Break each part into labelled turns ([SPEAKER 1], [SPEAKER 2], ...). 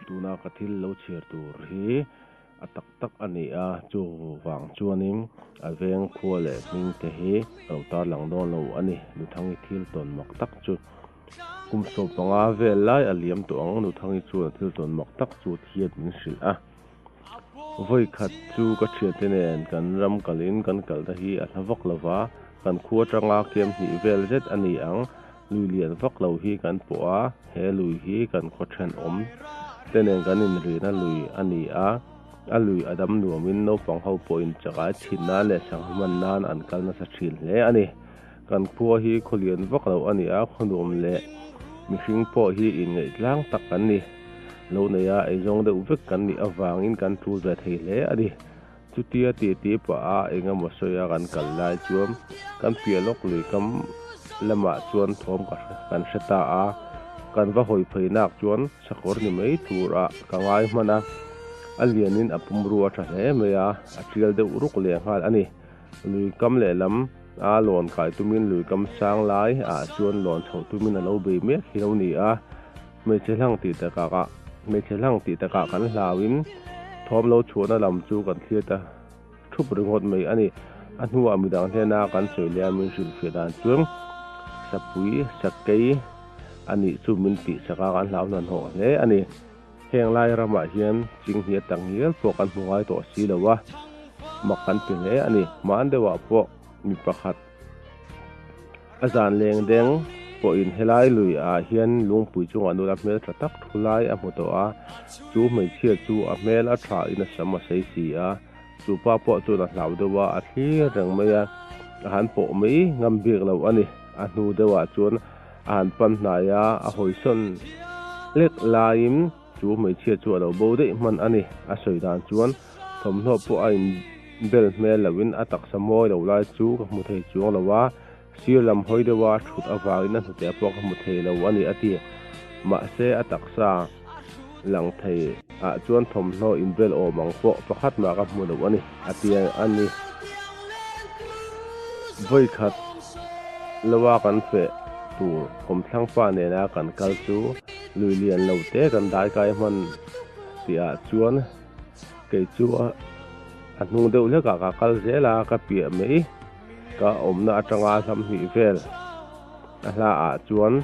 [SPEAKER 1] Tuna ka thil lo chhir tur hi a tak tak a ni a, chuvang chuanin a veng khua leh hming te hi a lo tarlang dawn lo a ni. Nuthangi thil tawn mak tak chu kum sawm panga vel lai a liam tawh ang. Nuthangi chuan a thil tawn mak tak chu a thian min hrilh a. Vawi khat chu ka thiate nen kan ram kal in kan kal na hi a hla vak lo va, kan khu atanga kem hnih vel zet a ni ang, lui lian vak lo hi kan pawh a, he lui hi kan khaw then awm te nen kan in rih na lui a ni a, a lui a dam nuam in naupang ho pawh in chakai thin nan leh sangha man nan an kal nasa thin hle a ni. Kan khua hi khaw lian vak lo a ni a, khaw nuam leh mihring pawh hi inngaihtlâng tak kan ni. Lo nei a, eizawng deuh vek kan nih avangin kan ṭul ve thei hle a ni. Chutia titi paha eng emaw sawi a kan kal lai chuan kan piah lawk lui kam lamah chuan thawm ka kan hre ta a, kan va hawi phei nak chuan sakawr ni mai turah ka ngai hman a, a lianin a pumrua ṭha hle mai a, a ṭial deuh ruk lehnghal a ni. Lui kam leh lam a lawn kai tumin lui kam sang lai ah chuan lawn chhoh tumin a lo bei mek hi lo ni a, hmeichhe hlang tih takah ah hmeichhe hlang tih takah kan hlauin thawm lo chhuahna lam chu kan thlir ta thup ringawt mai a ni. A hnuah mi dang hian a kan sawi liamin hrilhfiah dan chuan Sapui, Sakei, a nih chu min tihsak a kan hlau hnanhawh hle a ni. Heng lai ramah hian ching hniat tak ngial pawh kan hmu ngai tawh si lo a, mak kan ti hle a ni. Hmân deuhah pawh mi pakhat a zan lengdeng pawhin helai lui ah hian lungpui chungah nula hmel tla tak thu lai a hmu tawh a, chu hmeichhia chu a hmel a tha in a sam a sei si a, chu pa pawh chuan a hlau deuh a, a thlir reng mai a, a han pawh mai ngam bik lo a ni. A hnu deuhah chuan. An pan hnaia a hawisawn lek laiin chu hmeichhia chu a lo bo daih hman a ni. A sawi dan chuan thawmhnaw pawh a inbel hmel loin a taksa mawi loh lai chu ka hmu thei chuang lo a, sir lam hawi deuha thut avangin a hnu teh pawh ka hmu thei lo a ni a ti. Mahse a taksa. lang thei ah chuan thawmhnaw inbel awm ang pawh pakhat mah ka hmu loh a ni, a ti a ni. Vawikhat loa kan feh tur Kawmthlangpa nena kan kal chu lui lian lo te kan daikai hman tih ah chuan kei chu a hnung deuh hlekah ka kal zel a, ka piah mai. Ka awmna atanga hlam hnih vel a hla ah chuan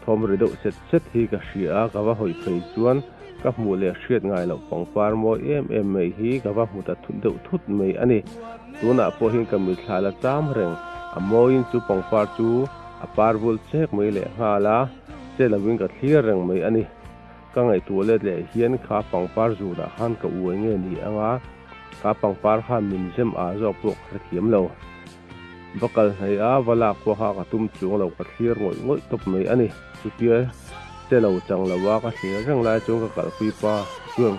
[SPEAKER 1] thawm ri deuh set set hi ka hria a, ka va hawi phei chuan ka hmuh leh hriat ngai loh pangpar mawi em em mai hi ka va hmu ta thut deuh thut mai a ni. Tunah pawh hin ka mitthla la cham reng, a mawiin chu pangpar chu a par vul chek mai leh nghal a, che lo in ka thlir reng mai a ni. Ka ngaihtuah let leh hian kha pangpar zunah khan ka uai nge ni anga kha pangpar kha min zem ah zawk pawh ka hrethiam lo. Va kal hnaih a va lak pawh kha ka tum chuang lo ka thlir ngawih ngawih tawp mai a ni. Chutia che lo chang lo a ka thlir reng lai chuan ka kalh pui pa chuan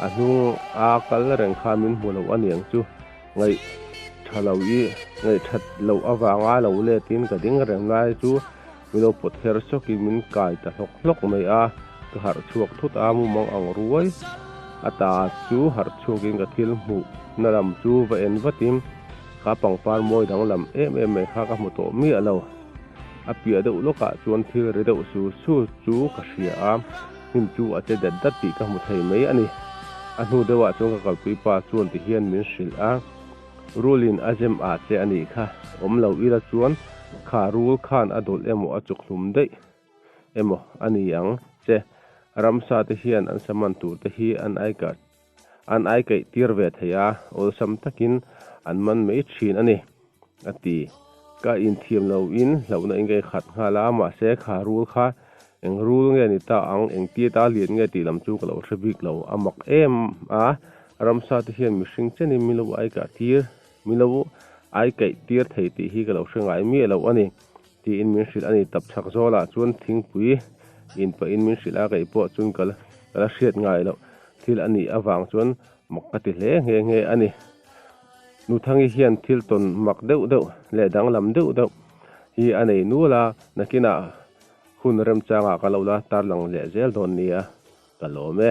[SPEAKER 1] a hnung a kal reng kha min hmu lo a niang chu ngaih tha lo i ngaih that loh avanga lo let in ka ding reng lai chu Min lo pawt her chawk in min kai ta hlawk hlawk mai a, ka harh chhuak thut a, mumang ang ruai a ta chu harh chhuak in ka thil hmuh na lam chu va en vat in ka pangpar mawi dang lam em em mai kha ka hmu tawh miah lo. A piah deuh lawk ah chuan thil ri deuh su su chu ka hria a, hnim chu a che dat dat tih ka hmu thei mai a ni. A hnu deuh ah chuan ka kalpui pa chuan ti hian min hrilh a. Rulin a zem ah che a nih kha, awm lo ila chuan kha rul khan a dawlh emaw a chuk hlum daih emaw a ni ang che. Ramsa te hian an saman tur te hi an aikah an aikaih tir ve thei a, awlsam takin an man mai thin a ni, a ti. Ka inthiam loin hlauhna ingaihkhat nghal a, mahse kha rul kha Eng rul nge ni ta ang, eng ti ata hlian nge tih lam chu ka lo hre bik lo a mak em a. Ramsa te hian mihring chenin milo aikah tir, milo aikaih tir thei tih hi ka lo hre ngai miah loh a ni, tiin min hrilh a ni. Tap chhak zawlah chuan thingpui in pah in min hrilh a, kei pawh chuan ka la hriat ngai loh thil a nih avang chuan mak ka ti hle nghe nghe a ni. Nuthangi hian thil tawn mak deuh deuh leh danglam deuh deuh hi a nei nual a, nakinah. Hun remchangah ka lo la tarlang leh zel dawn nia ka lawm e.